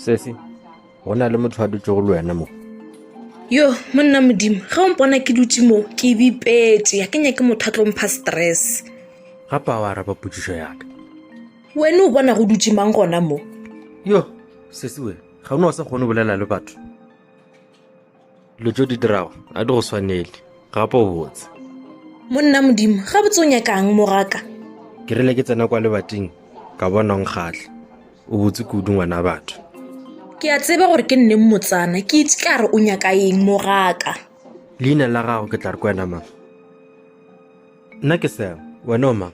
sesi go na le motho a dutse go le wena mo yo monna modimo ge o mpona ke dutse mo ke bipetse ya ke nyake motho a tlompha stress gape a o araba potsiso yaka wena o bona go dutse mang gona mo yo sesi wena ga o ne wa sa kgone bolela le batho dilo tso di dirago a di go swanele gape o botse monna modimo ga botse o nyakang mogaka ke rile ke tsena kwa lebating ka bona o nkgatlha o botse kudu ngwana batho ke a tseba gore ke nne mmotsana ke itse ka re o nyaka eng mogaka leina la gago ke tla re kwena mang nna ke seo wena o mang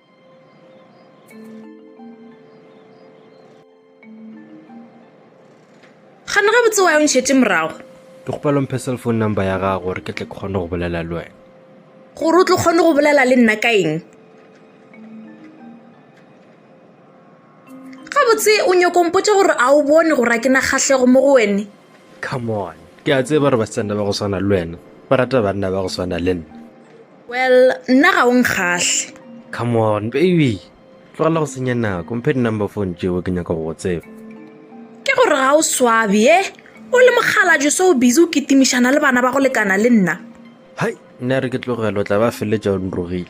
gana gabotse wa yo ntšhetse morago ke kgopela mphe cell phone number ya gago gore ke tle ke kgone go bolela le wena gore o tlo kgone go bolela le nna ka eng gabotse o nyoko mpotse gore a o bone gore a ke na kgahlego mo go wene come on ke a tseba gore basetsana ba go swana le wena ba rata banna ba go swana le nna well nna ga o nkgahle come on baby tlogela go senya nako mphe di-number phone tšeo ke nyaka go go tseba ke gore ga o swabe e o le mokgalajo se o busy o kitimišana le bana ba go lekana le nna hai nna re ke tlogelo tla ba feletša o nrogile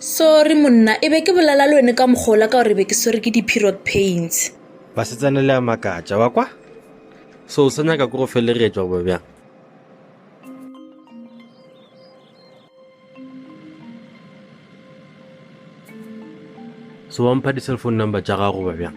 sorry monna e be ke bolela le wene ka mokgola ka gore be ke swere ke di-period pains basetsana le a makatša wa kwa so o sa nyaka ko go felegetšwa goba bjang so wa mpha di-cellphone number tša gago goba bjang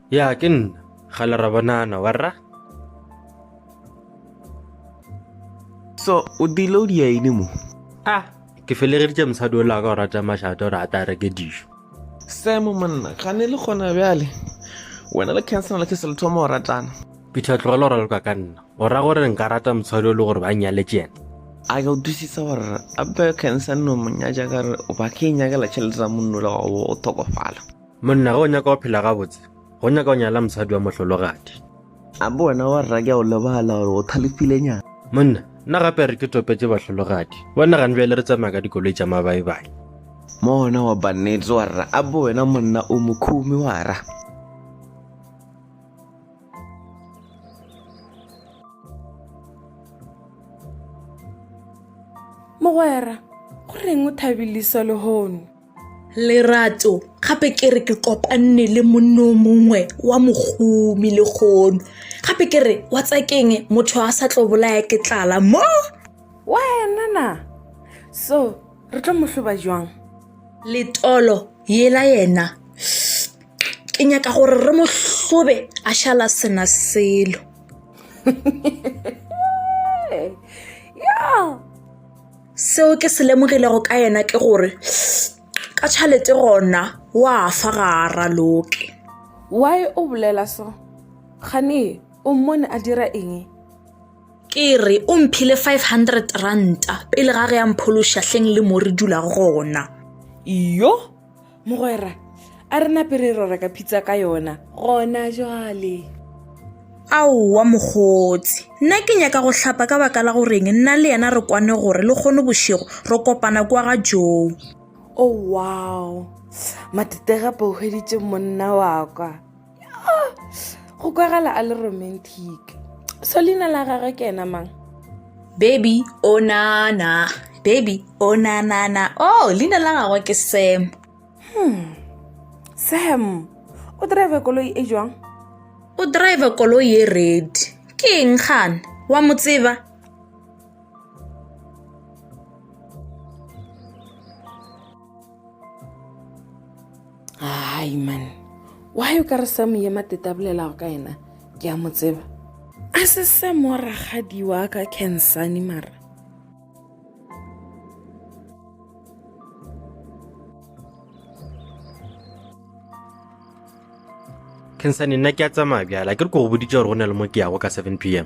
Ya, ke nna. Kgale ra bonana, warra? So, o dile o dia ene mo? Ah, ke felegeditše mosadi o laka o rata mašate gore a tla reke dijo. Sam monna, ga ne le gona bjale. Wena le Kenson le ke se le thoma go ratana. Peter tlogela gore le kwa ka nna. O ra gore nka rata mosadi o le gore ba nyaletše yena. a ka utlwisisa gore ape Kenson no monyatša ka re o ba ke e nyakela tšhelete tsa monno le gago o thokofala. Monna, ge o nyaka go phela gabotse, go nyaka go nyala mosadi wa mohlologadi. A bo wena wa rra ke a o lebala gore o thalefilenyana. Monna, nna gape re ke topetše bahlologadi. Wa nagane bjale re tsamaya ka dikoloi tša mabaebae. Monna, wa ba nnete wa rra. A bo wena monna o mokhumi wa rra. Mogwera, go reng o thabiliswa lehono? lerato gape ke re ke kopanne le monno mongwe wa mogomi le kgono gape ke re wa tsakeng motho a sa tlo bolaya ke tlala mo wena na so re tlo mohloba jwang letolo yela yena ke nyaka gore re mohlobe a šala sena selo ya seo ke se lemogilego ka yena ke gore ka tšhalete gona wa fa ga a raloke why o bolela so gane o mmone a dira eng ke re o mphile 500 ranta pele ga ge ya mphološa hleng le mo re dulago gona yo mogwera a re nape re rora ka phitsa ka yona gona jwale aowa mokgotsi nna ke nyaka go hlapa ka baka la goreng nna le yena re kwane gore le kgone bošego re kopana kwa ga joo o oh, wow matetega pohweditše monna wa kwa go kwagala a le romantic so leina la gagwe ke ena mang baby o oh, nana baby o oh, nanana o oh, leina la gagwe ke sam hmm. sam o drive koloi e jwang o drive koloi e red ke eng gane wa mo tseba hai man wa yo ka re sa moye mateta bolelago ka yena ke a mo tseba a se se mo ragadi wa ka cansane mara cansane nna ke a tsamaya bjala ke re ko go boditse gore go na le mo ke yago ka seven p m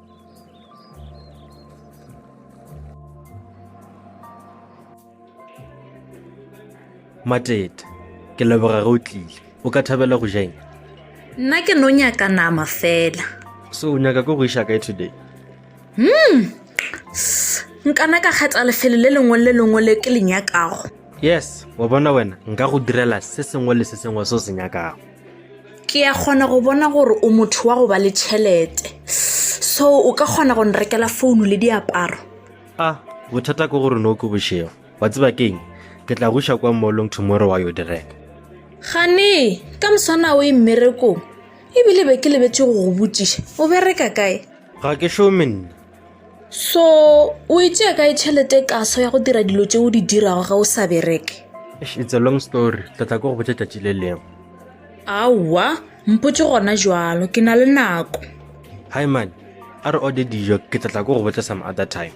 matete ke leboga ge o tlile o ka thabela go jeng nna ke no nyaka nama fela so o nyaka ko go iša kae today hmm S- nkana ka kgetha lefelo le lengwe le lengwe le ke le nyakago yes wa bona wena nka go direla se sengwe le se sengwe se o se nyakago ke ya kgona go bona gore o motho wa go ba le tšhelete so o ka kgona go nrekela founu le diaparo a bothata ke gore no ke bošego wa tseba keng ke tla goša kwa mollong tomorrow wa yo di reka gane ka moswana o e mmerekong ebile be ke lebetse go go botšiša o bereka kae ga ke šome nna so o e tšea kae tšhelete kaso ya go dira dilo tse o di dirago ga o sa bereke it's a long story tla tla ko go botša tšatši le lengwe aowa mpotse gona jalo ke na le nako hi man a re ode dijo ke tla tla ko go botša some other time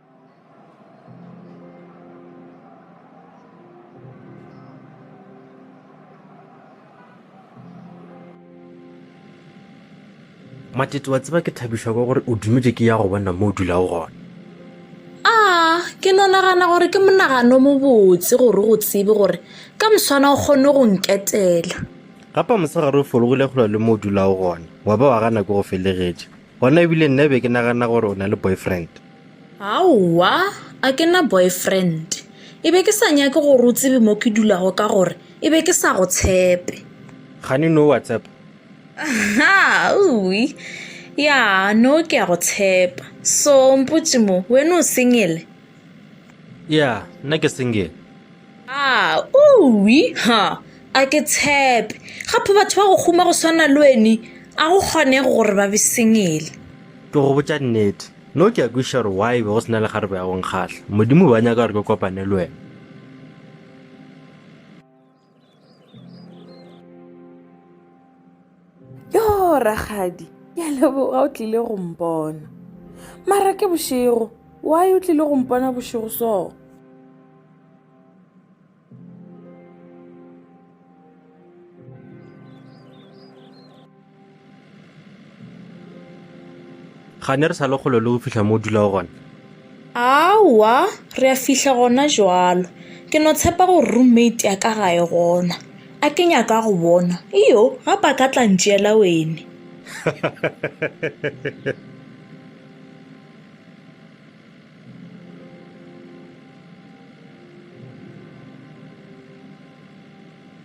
matete wa tseba ke thabišwa ka gore o dumetše ke ya go bona mo o dulago gona a ke no nagana gore ke monagano mobotse gore go tsebe gore ka moswana o kgone go nketela gapa mosegare o fologile kgolo le mo o dulago gona wa ba wa gana ke go felegetše gona ebile nna be ke nagana gore o na le boyfriend Aowa, a ke na boyfriend. E be ke sa nyake gore o tsebe mo ke dulago ka gore e be ke sa go tshepe. Gane no wa tshepa? Aha, uwi. Ya, no ke a go tshepa. So, mpotše mo, wena o single? ya nna ke single a uwi ha a ke tshepe gape batho ba go kguma go swana le weni a go kgonege gore ba be sengele ke go botša nnete no ke a kweša gore why be go sena le garebe ya go nkgahla modimo ba nyaka gore ke kopane le wena yo ragadi ya leboga o tlile go mpona mara ke bošego why o tlile go mpona bošego soo ga ne re sa le kgolo le go fihla mo o dulago gona aowa re a fihla gona jalo ke no tshepa gore roommate ya ka ga e gona a ke nyaka go bona iyo ga ba ka tla ntšeela wene